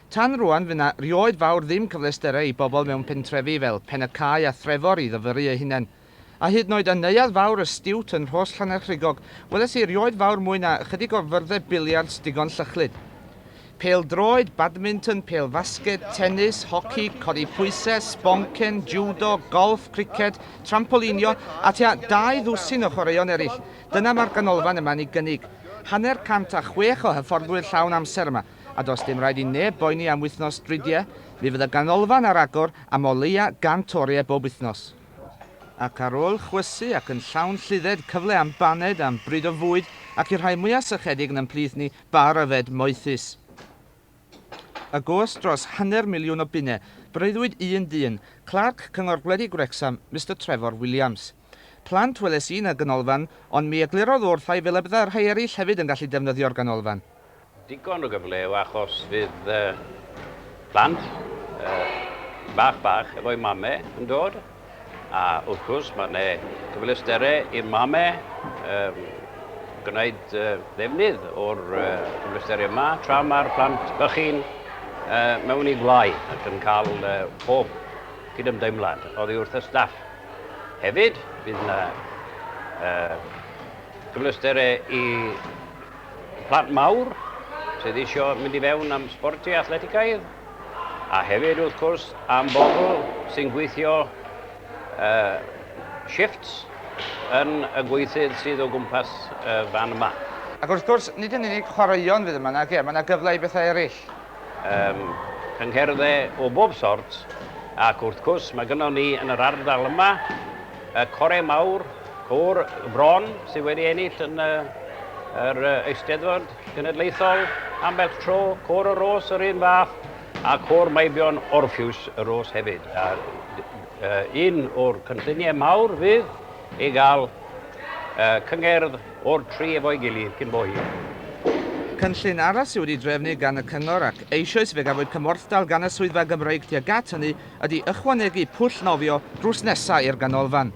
Tan rŵan, fy na rioed fawr ddim cyfleusterau i bobl mewn pentrefi fel Pen-y-cae a Threfor i ddyfyru eu hunain. A hyd noed yn neuadd fawr y Stiwt yn Rhos Llannerchrugog, weles i rioed fawr mwy na ychydig o fyrddau biliards digon llychlyd. Pêl droed, badminton, pêl fasged, tenis, hoci, codi pwysau, sboncen, jiwdo, golff, criced, trampolinio, a tua dau ddwsin o chwaraeon eraill. Dyna mae'r ganolfan yma'n ei gynnig. Hanner cant a chwech o hyfforddwyr llawn amser yma. a does dim rhaid i neb boeni am wythnos dridiau, mi fydd y ganolfan ar agor am o leia' gant oriau bob wythnos. Ac ar ôl chwysu ac yn llawn lludded cyfle am baned am bryd o fwyd ac i'r rhai mwya' sychedig yn 'n mhlith ni, bar yfed moethus. Y gost dros hanner miliwn o bunne, breuddwyd un dyn, Clerc Cyngor Gwledig Wrecsam, Mister Trefor Williams. Plant weles i yn y ganolfan, ond mi eglurodd wrth ai fel y bydda rhai eraill hefyd yn gallu defnyddio'r ganolfan. Digon o gyfle yw achos fydd plant bach bach efo'u mame yn dod, a wrth gwrs mae yna gyfleusterau i'r mame gwneud defnydd o'r cyfleusterau yma tra mae'r plant bychin mewn i gwlâu ac yn cael pob cydymdeimlad oddi wrth y staff. Hefyd, bydd yna gyfleusterau i plant mawr sydd eisiau mynd i fewn am sbortiau athletigaidd, a hefyd, wrth gwrs, am bobl sy'n gweithio shifts yn y gweithyd sydd o gwmpas y fan yma. Ac wrth gwrs, nid yn unig chwaraeon fydd yma, nage, mae yna gyfle i bethau eraill. Yym, cyngherddau o bob sort, ac wrth cwrs mae gynnon ni yn yr ardal yma y Core Mawr, Côr y Bron, sydd wedi ennill yn y, yr Eisteddfod Genedlaethol ambell tro, Côr y Ros yr un fath, a Côr Meibion Orphews y Ros hefyd. A, uh, un o'r cynlluniau mawr fydd i gael uh, cyngerdd o'r tri efo'i gilydd cyn bo hir. Cynllun arall sydd wedi drefnu gan y Cyngor ac eisoes fe gafwyd cymorthdal gan y Swyddfa Gymreig tuag at hynny ydy ychwanegu pwll nofio drws nesa i'r Ganolfan.